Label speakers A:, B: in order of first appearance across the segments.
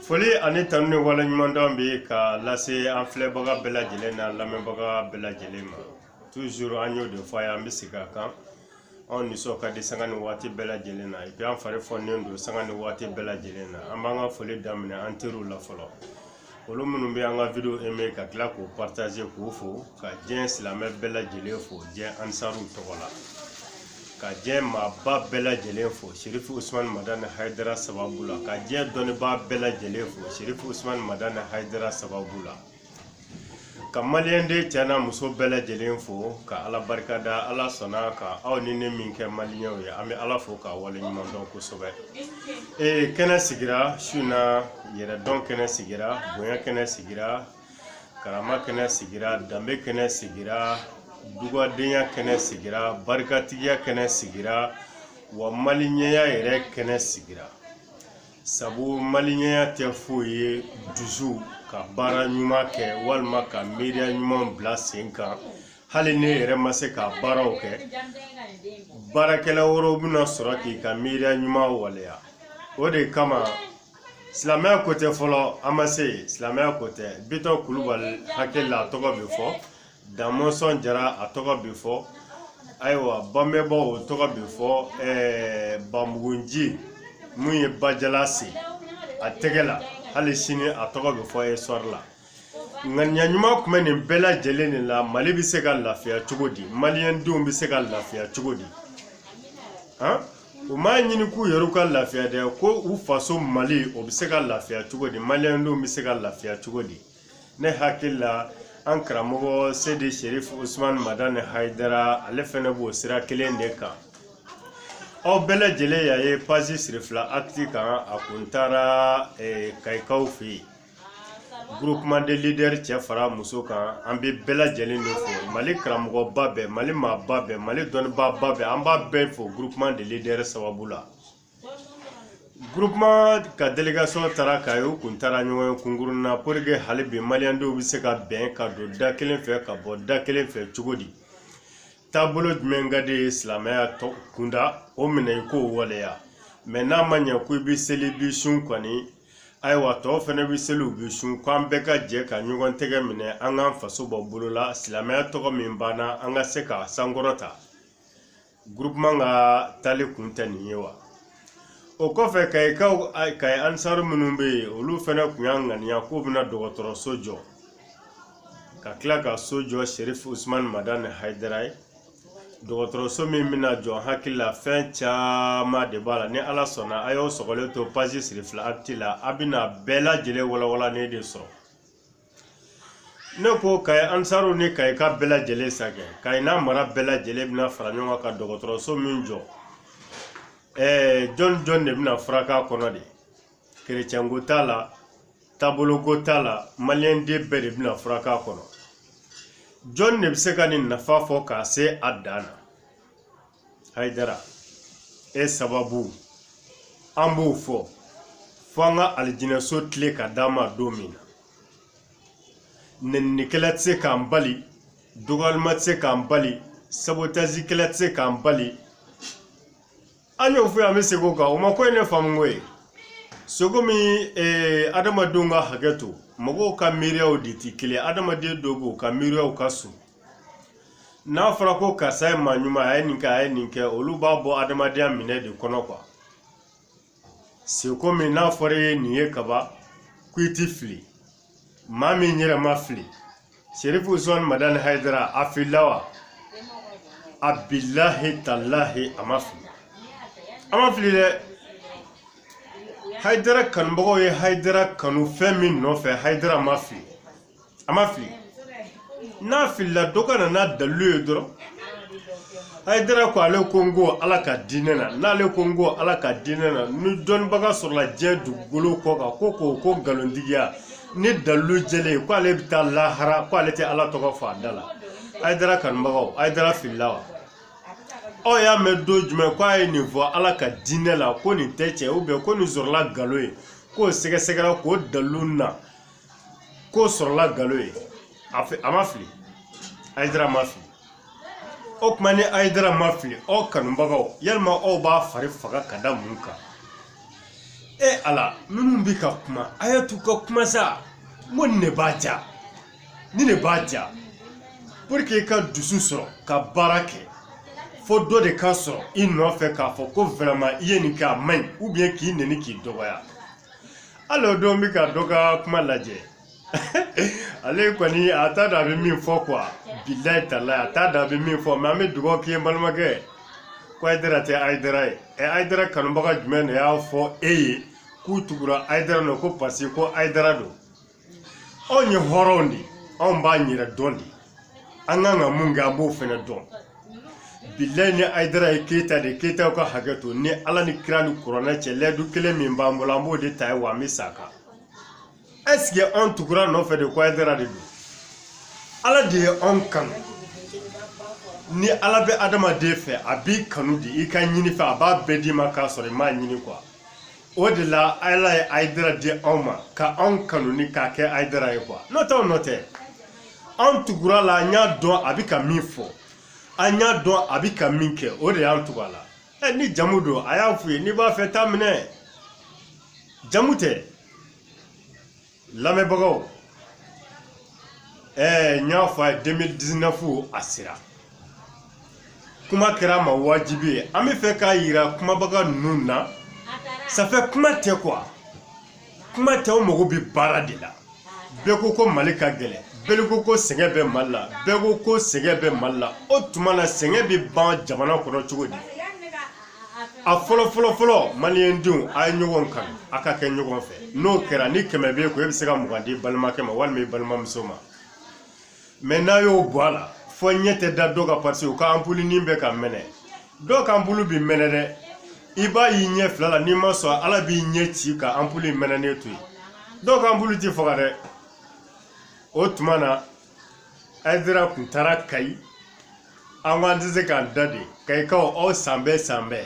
A: foli ani tanu ni waleɲumandɔn bɛ ka lase an filɛbaga bɛɛ lajɛlen n'an lamɛnbaga bɛɛ lajɛlen ma toujours an y'o de fɔ a ye an bɛ segin a kan anw nisɔn ka di sanga ni waati bɛɛ lajɛlen na et puis an fari fɔnnen don sanga ni waati bɛɛ lajɛlen na an b'an ka foli daminɛ an teriw la fɔlɔ olu minnu bɛ an ka video aimer ka tila k'o partager k'o fo ka diɲɛ silamɛ bɛɛ lajɛlen fo diɲɛ ansaruw tɔgɔ la ka diɲɛ maaba bɛɛ lajɛlen fo serifu usumani madani hayidara sababu la ka diɲɛ dɔnnibaa bɛɛ lajɛlen fo serifu usumani madani hayidara sababu la ka maliyɛnden cɛ n'a muso bɛɛ lajɛlen fo ka ala barika da ala sɔnna ka aw ni ne min kɛ maliyɛnw ye an bɛ ala fo k'a wale ɲuman dɔn kosɛbɛ ee kɛnɛ sigira su in na yɛrɛdɔn kɛnɛ sigira bonya kɛnɛ sigira karama kɛnɛ sigira danbe kɛnɛ sigira dugadenya kɛnɛ sigira barikatigiya kɛnɛ sigira wa maliyɛnya yɛrɛ kɛnɛ sigira sabu maliyɛnya tɛ foyi ye dusu ka baara ɲuman kɛ walima ka miiriya ɲuman bila sen kan hali n'i yɛrɛ ma se ka baaraw kɛ baarakɛla wɛrɛw bɛna sɔrɔ k'i ka miiriya ɲuman waleya o de kama silamɛya ko tɛ fɔlɔ an ma se yen silamɛya ko tɛ bitɔn kulubali hakili la a tɔgɔ bɛ fɔ damɔnsɔn jara a tɔgɔ bɛ fɔ ayiwa babɛnba o tɔgɔ bɛ fɔ ɛɛ banbugu nci min ye bajala sen a tɛgɛ la hali sini a tɔgɔ bɛ fɔ histoire la ŋaniya ɲuman tun bɛ nin bɛɛ lajɛlen de la mali bɛ se ka lafiya cogo di maliyɛndenw bɛ se ka lafiya cogo di han u m'a ɲini k'u yɛrɛw ka lafiya dɛ ko u faso mali o bɛ se ka lafiya cogo di maliyɛndenw bɛ se ka lafiya cogo di ne hakili la an karamɔgɔ seyidi sherif usman madani hayidara ale fɛnɛ b'o sira kelen de kan aw bɛɛ lajɛlen y'a ye page sirifila actu kan a kun taara eh, kayikaw fɛ yen groupement de leader cɛ fara muso kan an bɛ bɛɛ lajɛlen de fo mali karamɔgɔba bɛɛ mali maaba bɛɛ mali dɔnnibaaba bɛɛ an b'a bɛɛ fo groupement de leader sababu la groupement ka délégation taara kayi u kun taara ɲɔgɔnye kunkurunnin na pour que hali bi maliyɛndenw bɛ se ka bɛn ka don da kelen fɛ ka bɔ da kelen fɛ cogo di taabolo jumɛn ka di i ye silamɛya kunda o minɛ i k'o waleya mais n'a ma ɲɛ ko i bɛ seli i bɛ sun kɔni ayiwa tɔw fɛnɛ bɛ seli u bɛ sun ko an bɛɛ ka jɛ ka ɲɔgɔn tɛgɛ minɛ an k'an faso bɔ bolo la silamɛya tɔgɔ min banna an ka se k'a sankɔrɔta groupement ka taali kun tɛ nin ye wa o kɔfɛ kayikaw kayi ansaru minnu bɛ yen olu fɛnɛ kun y'a ŋaniya k'u bɛna dɔgɔtɔrɔso jɔ ka tila ka so jɔ sɛrifu usumani madani hayidara ye dɔgɔtɔrɔso min bɛna jɔ n hakili la fɛn caman de b'a la ni ala sɔnna a y'o sɔgɔlen to pazi sirifila akiti la a bɛna bɛɛ lajɛlen walawalanen de sɔrɔ ne ko kayi ansaruw ni kayikaw bɛɛ lajɛlen sakɛ kayi n'a mara bɛɛ lajɛlen bɛna fara ɲɔgɔn kan ka dɔgɔtɔrɔso min jɔ ɛɛ jɔni jɔni de bɛna furak'a kɔnɔ de kerecɛnko t'a la taaboloko t'a la maliyɛnden bɛɛ de bɛna furak'a kɔnɔ jɔn de bɛ se ka nin nafa fɔ k'a se a dan na hayidara e sababu an b'o fɔ fo an ka alijinɛso kile ka d'an ma don min na nɛninikɛla tɛ se k'an bali dɔgɔyalimaa tɛ se k'an bali sabotazikɛla tɛ se k'an bali An y'o fɔ yan an bɛ segin o kan o ma ko ye ne faamuko ye cogo min eh, adamadenw ka hakɛ to mɔgɔw ka miiriyaw de tɛ kelen ye. adamaden dɔw b'u ka miiriyaw ka surun n'a fɔra ko karisa ye maa ɲuman a ye nin kɛ a ye nin kɛ olu b'a bɔ adamadenya minɛn de kɔnɔ kuwa sɛ komi n'a fɔra e ye nin ye kaba ko i ti fili maa min yɛrɛ ma fili serifu usman madani hayidara a filila wa a bilahi talahi a ma fili a ma fili dɛ hayidara kanubagaw ye hayidara kanu fɛn min nɔfɛ hayidara ma fili a ma fili n'a filila dɔ ka na n'a dalilu ye dɔrɔn ayidara ko ale ko n ko ala ka diinɛ na n'ale ko n ko ala ka diinɛ na ni dɔnnibaga sɔrɔla diɲɛ dugukolo kɔ kan ko k'o k'o nkalontigiya ni dalilu jɛlen ko ale bɛ taa lahara ko ale tɛ ala tɔgɔ fɔ a da la ayidara kanubagaw ayidara filila wa aw y'a mɛn don jumɛn ko a ye nin fɔ ala ka diinɛ la ko nin tɛ tiɲɛ ubiyɛn ko nin sɔrɔla nkalon ye k'o sɛgɛsɛgɛra k'o dalilu na k'o sɔrɔla nkalon ye a ma fili ayidara ma fili o tuma ni ayidara ma fili aw kanubagaw yalima aw b'aw fari faga ka da mun kan e ala minnu bɛ ka kuma a y'a t'u ka kuma sa n ko nin de b'a diya nin de b'a diya puru k'i ka dusu sɔrɔ ka baara kɛ fo dɔ de ka sɔrɔ i nɔfɛ k'a fɔ ko wɛrɛman i ye nin kɛ a man ɲi ubiyɛn k'i nɛni k'i dɔgɔya hali o don n bɛ ka dɔ ka kuma lajɛ ale kɔni a t'a dɔn a bɛ min fɔ kuwa bilayi talayi a t'a dɔn a bɛ min fɔ mɛ an bɛ dugawu k'i ye n balimakɛ ko ayidara tɛ ayidara ye ɛ ayidara kanubaga jumɛn de y'a fɔ e ye k'u tugura ayidara nɔ ko paseke ko ayidara don anw ye hɔrɔnw de ye anw b'an yɛrɛ dɔn de an kan ka mun kɛ an b'o fɛnɛ dɔn bilayi ni ayidara ye keyita de keyitaw ka hakɛ to ni ala ni kira ni kuranɛ cɛ layidu kelen min b'an bolo an b'o de ta ye wa an bɛ sa a kan ɛsike anw tugura nɔfɛ de ko ayidara de don ala de ye anw kanu ni ala bɛ adamaden fɛ a b'i kanu de i ka ɲinifɛn a b'a bɛɛ d'i ma k'a sɔrɔ i m'a ɲini kuwa o de la ala ye ayidara di anw ma ka anw kanu ni k'a kɛ ayidara ye kuwa n'o tɛ anw nɔ tɛ anw tugura a la an y'a dɔn a bɛ ka min fɔ an y'a dɔn a bɛ ka min kɛ o de y'an tugu a la ɛ ni jamu don a y'a f'u ye n'i b'a fɛ taa minɛ jamu tɛ lamɛnbagaw ɛɛ n y'a fɔ a ye 2019 a sera kuma kɛra an ma wajibi ye an bɛ fɛ k'a yira kumabaga ninnu na safɛ kuma tɛ kuwa kuma tɛ o mago bɛ baara de la bɛɛ ko ko mali ka gɛlɛn bɛɛ ko ko sɛgɛn bɛ mali la bɛɛ ko ko sɛgɛn bɛ mali la o tuma na sɛgɛn bɛ ban jamana kɔnɔ cogo di a fɔlɔ fɔlɔ fɔlɔ maliyɛn denw a ye ɲɔgɔn kanu a ka kɛ ɲɔgɔn fɛ n'o kɛra ni kɛmɛ b'e kun e bɛ se ka mugan d'i balimakɛ ma walima i balimamuso ma mɛ n'a y'o bɔ a la fɔ ɲɛ tɛ da dɔ kan pasi u ka anpulunin bɛ ka mɛnɛ dɔw ka anpulu bi mɛnɛ dɛ i b'a y'i ɲɛ fila la n'i ma sɔn ala b'i ɲɛ ci ka anpulu in mɛnɛnen to yen dɔw ka anpulu ti faga dɛ o tuma na ayidara kun taara kayi an ko an tɛ se k'an da de kayikaw aw sanbɛɛ sanbɛɛ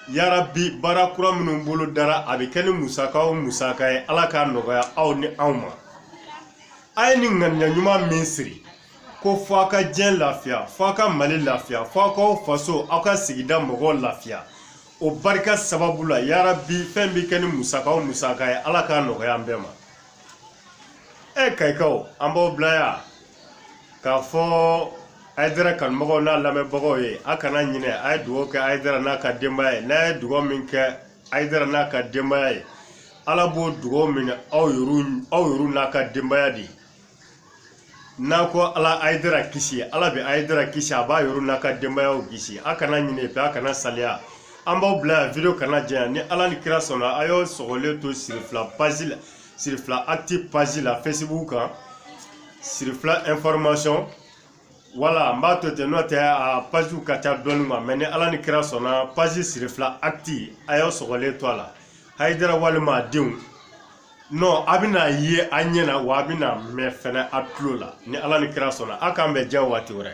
A: yarabi baara kura minnu bolodara a bɛ kɛ ni musaka o musaka ye ala k'a nɔgɔya aw ni anw ma a ye nin ŋaniya ɲuman min siri ko fɔ a ka diɲɛ lafiya fɔ a ka mali lafiya fɔ a k'aw faso aw ka sigida mɔgɔw lafiya o barika sababu la yarabi fɛn bɛ kɛ ni musaka o musaka ye ala k'a nɔgɔya an bɛɛ ma e kayikaw an b'aw bila yan k'a fɔ ayidara kanubagaw n'a lamɛnbagaw ye a kana ɲinɛ a ye dugawu kɛ ayidara n'a ka denbaya ye n'a ye dugawu min kɛ ayidara n'a ka denbaya ye ala b'o dugawu minɛ aw yɛrɛw n'a ka denbaya de ye n'a ko ala ayidara kisi ala bɛ ayidara kisi a b'a yɛrɛ n'a ka denbayaw kisi a kana ɲinɛ fɛ a kana salaya an b'aw bila yan video kana janya ni ala ni kira sɔnna a y'aw sɔgɔlen to sirifila page la sirifila actu page la facebook kan sirifila information wala n b'a to ten n'o tɛ a pagew ka ca dɔɔni ma mɛ ni ala ni kira sɔnna page sirifila actu a y'aw sɔgɔlen to a la ayidara walima a denw nɔ a bɛna ye a ɲɛ na wa a bɛna mɛn fɛnɛ a tulo la ni ala ni kira sɔnna a k'an bɛn diɲɛ waati wɛrɛ